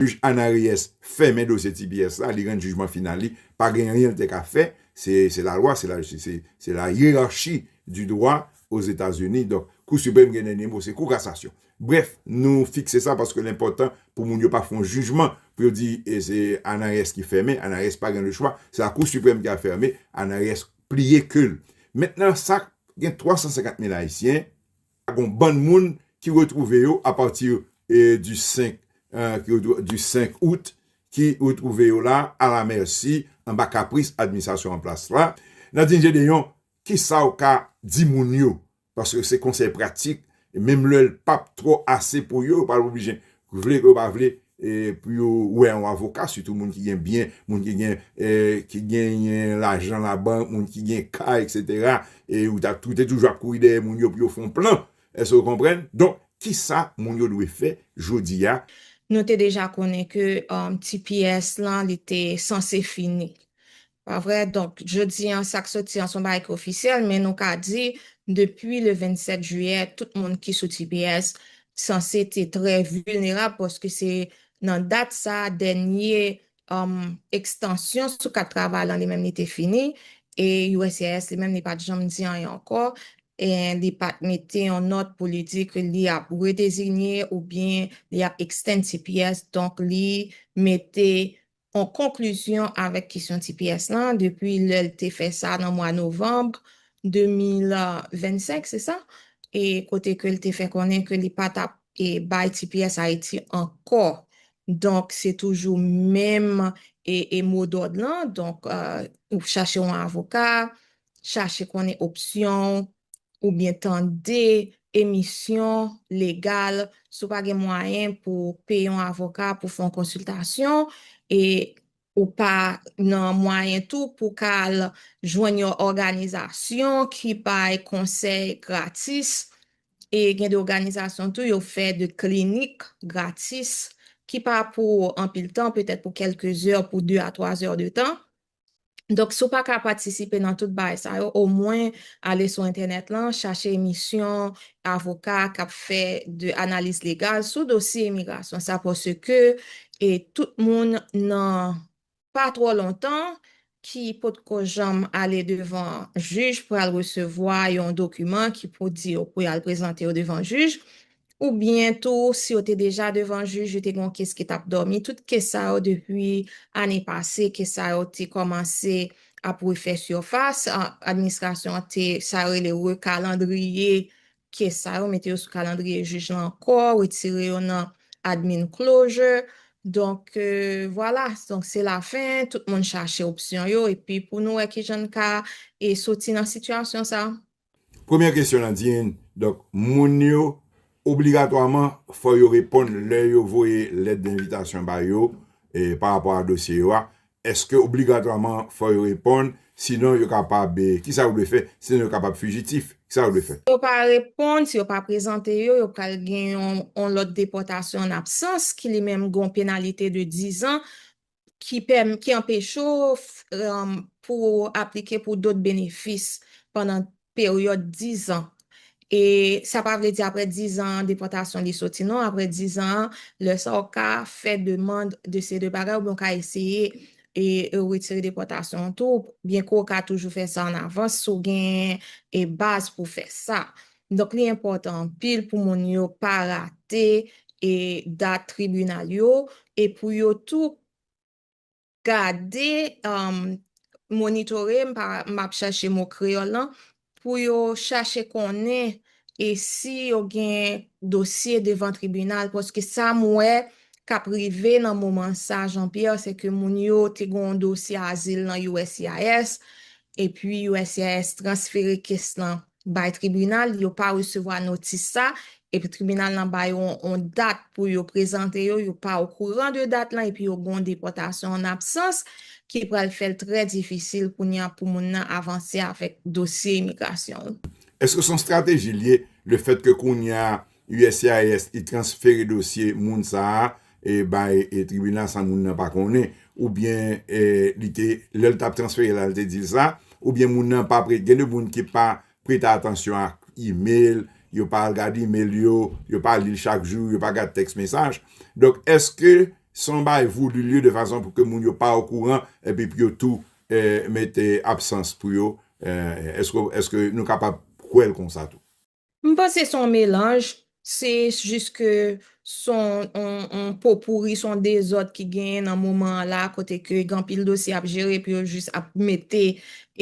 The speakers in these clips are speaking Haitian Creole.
Jij Ana Reyes fèmen dosye tps la, li rann jijman final li, pa gen anyen li te ka fè, se lalwa, se lajistis, se la hiérarchie du droit aux États Unis, donk Kou Siprèm gen dènye mo, se Kou Kasasyon. Brèf, nou fikse sa paske l enpòtan pou moun yo pa fè yon jijman pou yo di se Ana Reyes ki fèmen, Ana Reyes pa gen le chwa, se la Kou Siprèm ki al fèmen, Ana Reyes pliye ke l. Mentnan sa gen 350 mil Ayisyen, Gon bann moun ki retwouve yo a pati di 5 di 5 out ki retwouve yo la a la mèsi anba kapris administrasyon an plas la. Nadin Jedeyon kisa w ka di moun yo paske se konsèy pratik menm lè l pap twò ase pou yo yo pral oblije Vle ke yo pa vle pou yo wè yon avoka, sitou moun ki gen byen, moun ki gen ki genyen lajan labank, moun ki gen kay etc. E ou ta ou te toujou ap kouri dèyè moun yo pou yo fè yon plan. Èske ou konprann? Donk, kisa moun yo dwe fè jodi a? Nou te deja konnen ke tps lan li te sanse fini. Pa vre? Donk, jodi an, sa k soti an se yon bagay ki ofisyèl, men nou ka di, depi le 27 jiyè, tout moun ki sou tps sanse te trè vilnerab paske se nan dat sa a dènye ekstansyon sou kat travay lan li menm li te fini e uscis li menm li pa t janm di anyen ankò e li pa t mete yon nòt pou li di ke li ap redezinye oubyen li ap extend tps donk li mete an konklizyon avèk kesyon tps lan depi lè l te fè sa nan mwa novanm 2025, se sa? e kote ke l te fè konnen ke li pa t ap bay tps Ayiti ankò. Donk, se toujou menm mo dòd lan, donk, chache yon avoka, chache konnen opsyon w, oubyen tande emisyon legal si w pa gen mwayen pou w peye yon avoka pou fè yon konsiltasyon e ou pa nan mwayen tou pou w ka al jwenn yon òganizasyon ki bay konsèy gratis e gen de òganizasyon tou yo fè de klinik gratis ki pa pou anpil tan petèt pou kèlke zè pou 2 a 3 zè de tan Donk si w pa ka patisipe nan tout bagay sa yo, omwen ale sou entènèt lan, chache emisyon avoka k ap fè de analiz legal sou dosye imigrasyon sa paske e tout moun nan pa twò lontan ki potko janm ale devan jij pral resevwa yon dokiman ki pou di yo pou y al prezante yo devan jij. Oubyen tou, si yo te deja devan jij, yo te gen yon kes ki t ap dòmi. Tout kes sa yo, depi ane pase, kes sa yo te kòmanse ap refè sifas. Administrasyon an te, sa yo rele rekalandriye kes sa yo, mete yo sou kalandriye jij lan ankò, retire yo nan admin closure. Donk, vwala, donk se lafen, tout moun chache opsyon yo, epi pou nou wè kijan n ka soti nan sitiyasyon sa a. Premyè kesyon lan di yn donk moun yo obligatwaman fò yo reponn lè yo voye lèt denvitasyon ba yo pa rapò a dosye yo a eske obligatwaman fò yo reponn sinon yo kapab kisa yo dwe fè sinon yo kapab fijitif kisa yo dwe fè. Si yo pa reponn si yo pa prezante yo yo pral gen yon lòd depòtasyon an absans ki li menm gen yon penalite de dizan ki anpeche w pou w aplike pou dòt benefis pandan peryòd dizan. E sa pa vle di apre dizan an depòtasyon li soti non, apre dizan an lè sa w ka fè demand de seri de bagay oubyen w ka eseye retire depòtasyon an tou byenke w ka toujou fè sa an avans si w gen baz pou fè sa. Donk li enpòtan anpil pou moun yo pa rate dat tribinal yo e pou yo tou gade, monitore, m ap chache mo kreyòl lan, pou yo chache konnen e si yo gen dosye devan tribinal paske sa m wè k ap rive nan moman sa Jean Pierre se ke moun yo te gen yon dosye azil nan uscis epi uscis transfere kes lan bay tribinal, yo pa resevwa notis sa, epi tribinal lan ba yo yon dat pou yo prezante yo, yo pa okouran de dat lan epi yo gen yon depòtasyon an absans ki pral fè l trè difisil kounye a pou moun nan avanse avèk dosye imigrasyon l. Èske se yon estrateji l ye lefètke kounye a Uscis li transfere dosye moun sa a bay tribinal san moun nan pa konnen oubyen li te lè l t ap transfere la li te di l sa oubyen moun nan pa prete gen de moun ki pa prete atansyon ak email yo pa al gade email yo yo pa li l chak jou yo pa gad tèks mesaj donk èske se yon bagay voulu lieu de fason pou ke moun yo pa okouran epi pou yo tou mete absans pou yo èske nou kapab kwè l konsa tou. M panse son melanj, se jis ke son on popouri, son dezòd ki genyen nan moman an la kote ke gen anpil dosye ap jere epi yo jis ap mete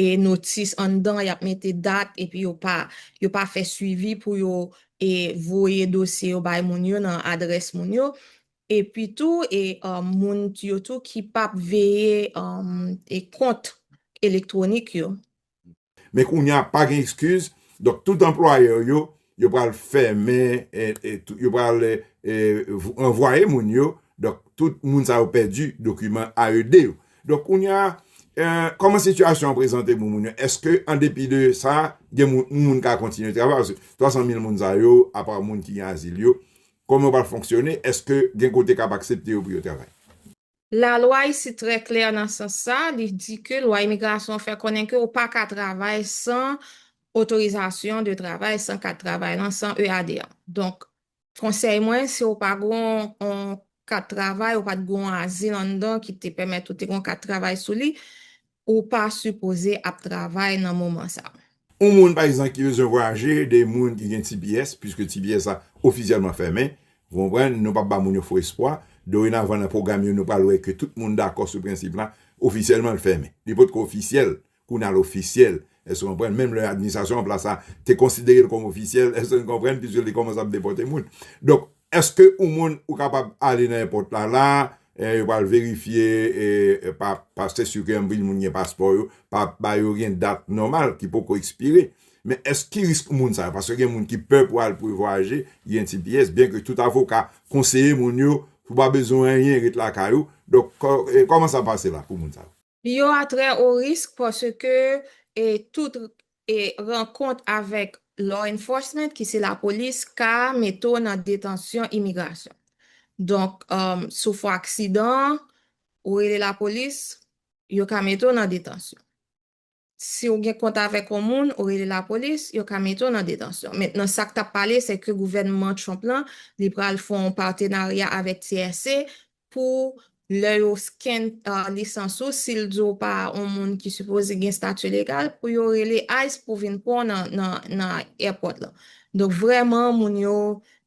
e notis anndan, y ap mete dat epi yo pa yo pa fè swivi pou yo e voye dosye yo bay moun yo nan adrès moun yo. Epi tou e moun yo tou ki p ap veye e kont elektwonik yo. Men kounya pa gen ekskiz, donk tout anplwayè yo, yo pral fèmen, yo pral ranvwaye moun yo, donk tout moun sa yo pèdi dokiman AED yo. Donk kounya, kòman sitiyasyon an prezante pou moun yo? Eske an depi de sa, gen moun, yon moun ka kontinye travay? Paske 300 mil moun sa yo, apa moun ki gen azil yo, kòman yo pral fonksyone? Eske gen kote k ap aksepte yo pou yo travay? Lalwa isit trè klè nan sans sa, li di ke lwa imigrasyon fè konnen ke ou pa ka travay san otorizasyon de travay, san kat travay lan, san EAD an. Donk, konsèy mwen, si ou pa gen yon kat travay, ou pa t gen yon azil anndan ki te pèmèt ou te gen yon kat travay sou li, Ou pa sipoze ap travay nan moman sa. Yon moun pa egzanp ki bezwen vwayaje, de moun ki gen tps, puiske tps la ofisyèlman fèmen, ou konprann, nou pap ba moun yo fo espwa, dorenavan nan pwogram yo nou pral wè ke tout moun dakò sou prensip la, ofisyèlman l fèmen. Li potko ofisyèl, kounye a l ofisyèl, èske nou konprann, menm lè administrasyon an plas la te konsidere l kòm ofisyèl, èske nou konprann, puiske li kòmanse ap depòte moun. Donk, Eske ou moun ou kapab ale nan èpòt la la a yo pral verifye pa paste sike anpil moun gen paspò yo pa ba yo gen dat nòmal ki poko ekspire men èske ki risk moun sa yo paske gen moun ki pè pou al pou yo vwayaje ki gen tps byen ke tout avoka konseye moun yo pou pa bezwen anyen ret lakay ou donk kòman sa pase la pou moun sa yo. Yo a trè o risk paske tout rankont avèk law enforcement ki se lapolis ka mete w nan detansyon imigrasyon. Donk si w fè w aksidan, ou rele lapolis, yo ka mete w nan detansyon. Si ou gen kont avèk yon moun, ou rele lapolis, yo ka mete w nan detansyon. Mentnan sa k t ap pale se ke gouvènman Trump la, li pral fè yon patenarya avèk TSA pou lè yo scan lisans ou, si l di w pa yon moun ki sipoze gen stati legal, pou yo rele ice pou vin pran w nan airport la. Donk vrèman moun yo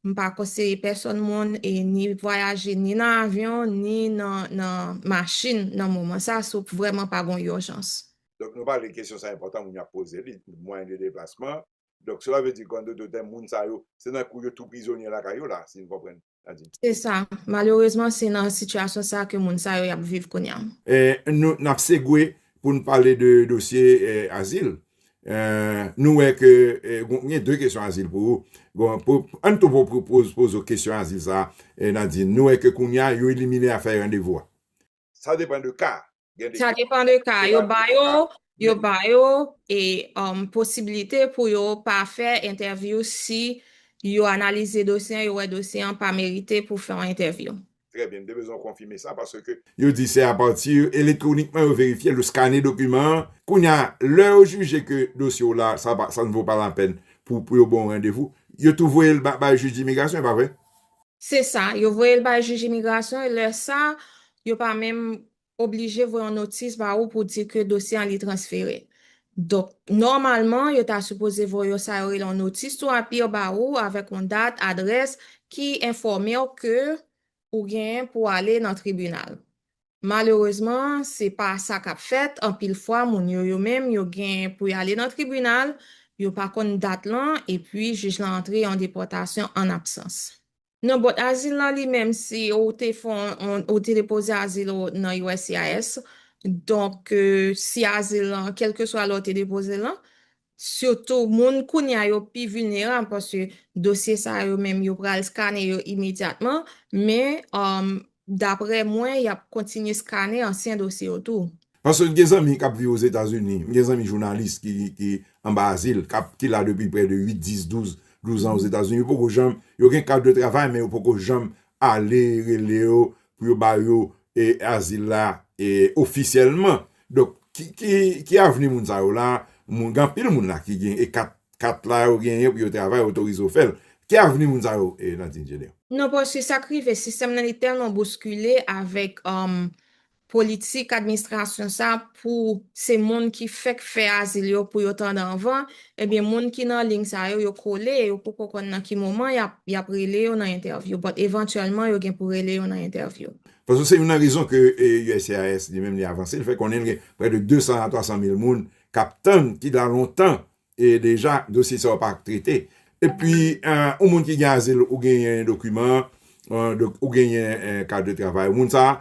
M pa konseye pèsòn moun e ni vwayaje ni nan avyon ni nan nan machin nan moman sa si w vrèman pa gon urjans. Donk nou pale kesyon sa enpòtan moun yo ap poze li, mwayen de deplasman, donk sela vle di kan dodoten moun sa yo se nan kou yo tou prizonye lakay yo la si n konprann sa di. Se sa, malerezman se nan sitiyasyon sa ke moun sa yo y ap viv kounya. E nou n ap segwe pou n pale de dosye azil. Nou wè ke m gen 2 kesyon azil pou ou. Ann tou poze w kesyon azil sa a, Nadin. Nou wè ke kounye a yo elimine afè randevou a. Sa depan de ka. Sa depan de ka. Yo ba yo, yo ba yo e posibilite pou yo pa fè entèvyou si yo analize dosye an, yo wè dosye an pa merite pou fè yon entèvyou. Trè byen, m te bezwen w konfime sa paske. Yo di se apati elektwonikman yo verifye l, yo skane dokiman an. Kounye a, lè yo jije ke dosye w la, sa pa, sa n vo pa lapèn pou, pou yo ban w randevou, yo tou voye l bay jij dimigrasyon, e pa vre? Se sa, yo voye l bay jij imigrasyon e lè sa, yo pa menm oblije voye yon notis ba ou pou di ke dosye an li transfere. Donk, nòmalman, yo ta sipoze voye yo sa yo rele yon notis tou apir ba ou avèk yon dat, adrès ki enfòme w ke ou genyen pou ale nan tribinal. Malerezman, se pa sa k ap fèt, anpil fwa moun yo yo menm yo gen pou y ale nan tribinal, yo pa konn dat lan epi jij lan antre an depòtasyon an absans. Non but azil lan li menm si ou te fè yon ou te depoze azil ou nan uscis donk si azil lan kelkeswa lè ou te depoze l lan sitou moun kounya yo pi vilnerab paske dosye sa yo menm yo pral skane yo imedyatman men Daprè mwen, y ap kontinye skane ansyen dosye yo tou. Paske m gen zanmi k ap viv Ozetazini, m gen zanmi jounalis ki anba azil, ki la depi prè de 8, 10, 12, 12 an Ozetazini, yo poko janm, yo gen kat de travay men yo poko janm ale rele yo pou yo ba yo azil la ofisyèlman. Donk, ki avni moun sa yo la? Gen anpil moun la ki gen kat Kat la yo genyen pou yo travay otorize yo fèl. Ki avni moun sa yo Landine Jenner? Non paske sak rive sistèm nan li tèlman bouskile avèk politik administrasyon sa pou se moun ki fèk fè azil yo pou yo tande anvan ebyen moun ki nan ling sa yo yo kole e yo poko konn nan ki moman yap rele yo nan entèvyou but evantyèlman yo gen pou rele yo nan entèvyou. Paske se youn nan rezon ke uscis li menm li avanse li fè konnen li gen prè de 200 a 300 mil moun k ap tann ki la lontan e deja dosye sa yo pa trete. Epi yon moun ki gen azil ou genyen dokiman ou genyen kat de travay ou moun sa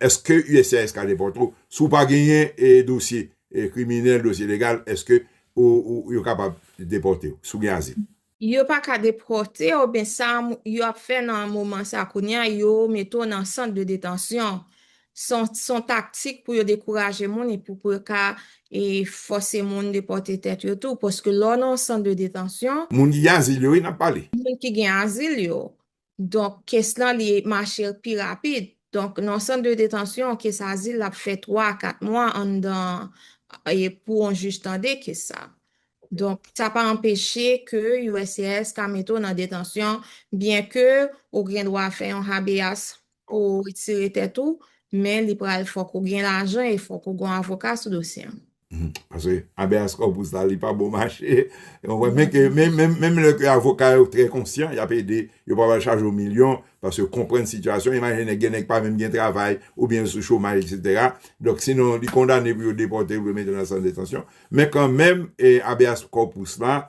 eske uscis ka depòte ou si w pa genyen dosye kriminèl dosye legal eske yo kapab depòte ou si w gen azil. Yo pa ka depòte w men sa yo ap fè nan moman sa kounye a yo mete w nan sant de detansyon s on taktik pou yo dekouraje moun epi pou yo ka fòse moun depòte tèt yo tou paske lè w nan yon sant de detansyon. Moun ki gen azil yo wi n ap pale. Moun ki gen azil yo Donk kes lan li mache pi rapid. Donk nan yon sant de detansyon, kes azil la ap fè 3 a 4 mwa anndan pou yon jij tande kes sa. Donk sa pa anpeche ke uscis ka mete w nan detansyon byenke ou gen dwa fè yon habeas Pou ou retire tèt ou, men li pral fòk ou gen lajan e fòk ou gon avoka sou dosye an. Paske habeas corpus la li pa bon mache ou konprann men ke menm lè ke avoka yo trè konsyan yap ede yo pa pral chaje ou milyon paske yo konprann sitiyasyon imajine nèg gen nèg pa menm gen travay oubyen yo sou chomaj eksetera donk si non li kondane pou yo depòte yo pou yo mete nan sant detansyon men kanmenm habeas corpus la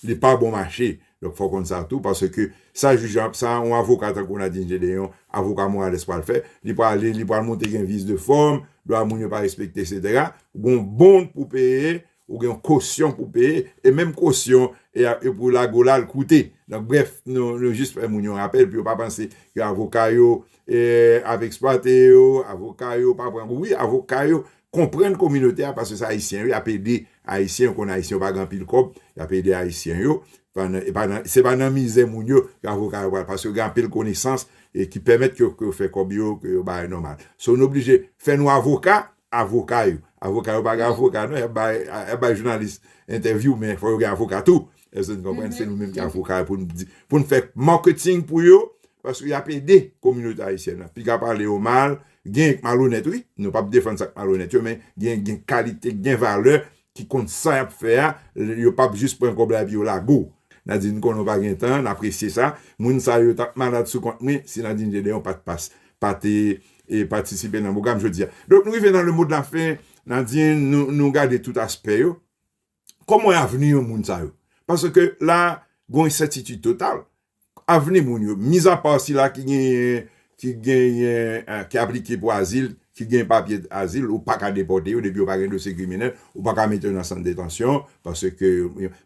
Li pa bon mache. Donk fò w konn sa tou paske sa jij lan ap sa yon avoka tankou Nadin Jedeyon, avoka Morales pral fè, li pral li pral montre gen vis de fòm, dwa moun yo pa respekte eksetera, ou gen yon bond pou peye, ou gen yon kosyon pou peye e menm kosyon e a e pou lage w la al koute. Donk brèf nou nou jis fè moun yo rapèl pou yo pa panse ke avoka yo e ap eksplwate yo, avoka yo pa pran kou wi avoka yo Konprann kominote a paske se ayisyen yo y ap ede ayisyen yo konn ayisyen yo pa gen anpil kòb y ap ede ayisyen yo pandan e pa nan se pa nan mizè moun yo ke avoka yo pral paske yo gen anpil konesans e ki pèmèt ke yo fè kòb yo ke yo bay nòmal so nou oblije fè nou avoka avoka yo avoka yo pa gen avoka non y ap bay jounalis entèvyou men fò yo gen avoka tou Èske nou konprann? Se nou menm ki ap fouke a pou nou di, pou nou fè marketing pou yo, paske y ap ede kominote ayisyèn nan. Piga pale yo mal, gen yo ki malonèt wi, nou p ap defann sa ki malonèt yo, men gen gen kalite, gen valè ki konn sa y ap fè a, yo p ap jis pran kòb la epi yo lage w. Nadin, m konnen ou pa gen tan, n apresye sa. Moun sa yo t ap malad sou kont mwen si Nadin Gedeon pa t pas, pa te patisipe nan pwogram jodi a. Donk nou rive nan le mo de la fen, Nadin, nou gade tout aspè yo, Kòman wè avni yon moun sa yo? Paske la a, gen yon ensètitid total. Avni moun yo, mizapa sila ki genyen, ki genyen, ki aplike pou azil, ki gen papye azil, ou pa ka depòte yo depi yo pa gen dosye kriminèl, ou pa ka mete yo nan sant detansyon, paske,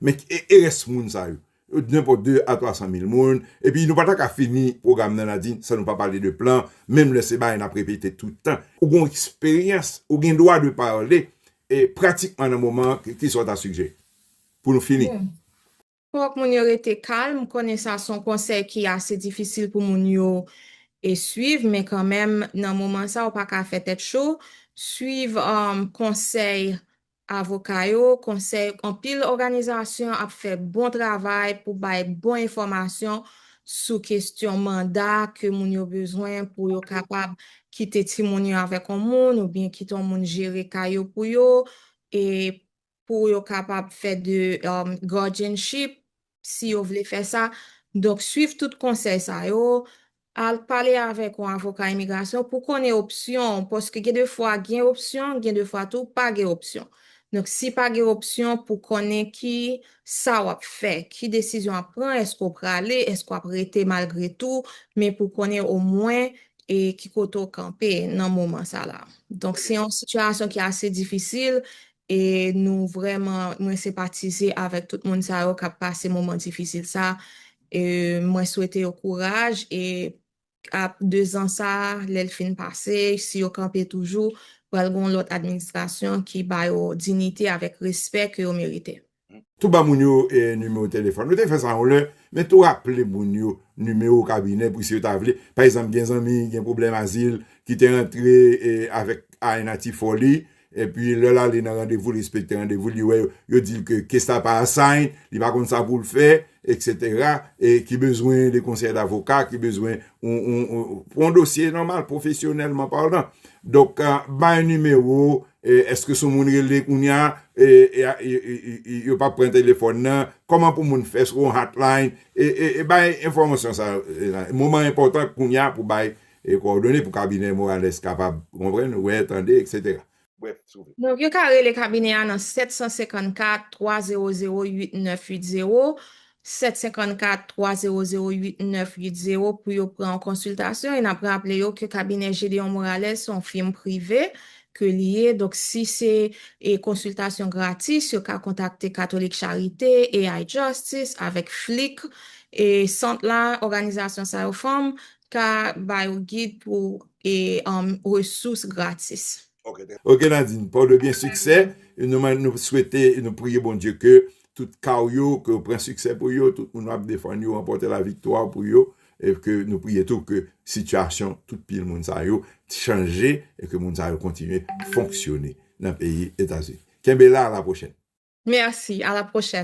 men e rès moun sa yo? yo t nenpòt 2 a 300 mil moun epi nou pa ta ka fini pwogram nan la di san nou pa pale de plan menm lè se bagay nap repete tout tan ou gon eksperyans ou gen dwa de pale e pratikman nan moman an kisa w ta sigjere pou nou fini. Bon fòk moun yo rete kalm m konnen sa son konsèy ki ase difisil pou moun yo e swiv men kanmenm nan moman sa ou pa ka fè tèt cho swiv konsèy Avoka yo, konsèy anpil òganizasyon ap fè bon travay pou bay bon enfòmasyon sou kestyon manda ke moun yo bezwen pou yo kapab kite timoun yo avèk on moun oubyen kite on moun jere ka yo pou yo e pou yo kapab fè de guardianship si yo vle fè sa. Donk swiv tout konsèy sa yo, al pale avèk yon avoka imigrasyon pou konnen opsyon w paske gen de fwa gen opsyon, gen de fwa tou pa gen opsyon. Donk si pa gen opsyon pou konnen ki sa w ap fè, ki desizyon w ap pran, èske w prale, èske w ap rete malgre tou, men pou konnen omwen e ki kote w kanpe nan moman sa la. Donk se yon sitiyasyon ki ase difisil E nou vrèman mwen senpatize avèk tout moun sa yo kap pase moman difisil sa e mwen swete yo kouraj e ap 2 zan sa lèl fin pase si yo kanpe toujou pral gon lòt administrasyon ki ba yo dinite avèk respè ke yo merite. Tou ba moun yo nimewo telefòn ou. Te fè sa yon lè, men tou raple moun yo nimewo kabinè pou si yo ta vle. Pa egzanp, gen zanmi ki gen pwoblèm azil ki te antre avèk ANH ti fò li, epi lè l ale nan randevou l respekte randevou l, li wè yo di l ke kes la pa assign, li pa konn sa pou l fè, Etc e ki bezwen de konsèy davoka ki bezwen pou yon dosye nòmal pwofesyonèlman palan donk bay nimewo eske sou moun rele kounya yo pa pran telefòn nan kòman pou moun fè sou yon hotline e bay enfòmasyon sa moman enpòtan kounya pou bay kòdone pou kabinè morales kapab konprann wè tande etc Brèf, si w vle. Donk yo ka rele kabinè a nan 754 300 8980, 754 300 8980 pou yo pran yon konsiltasyon e n ap raple yo ke kabinè Gédéon Morales se yon fim prive ke li ye, donk si se e konsiltasyon gratis yo ka kontakte Catholic Charité, AI Justice avèk FLIC e sant la, òganizasyon sa yo fanm ka ba yo gid pou e resous gratis. Ok Nadine paw de byen siksè nou swete nou priye Bondye ke tout kaw yo ke ou pran siksè pou yo tout moun wap defann yo ranpòte la viktwa pou yo e ke nou priye tou ke sitiyasyon tout pil moun sa yo chanje e ke moun sa yo kontinye fonksyone nan peyi etazini kenbe la a la pwochèn. Merci a la pwochèn.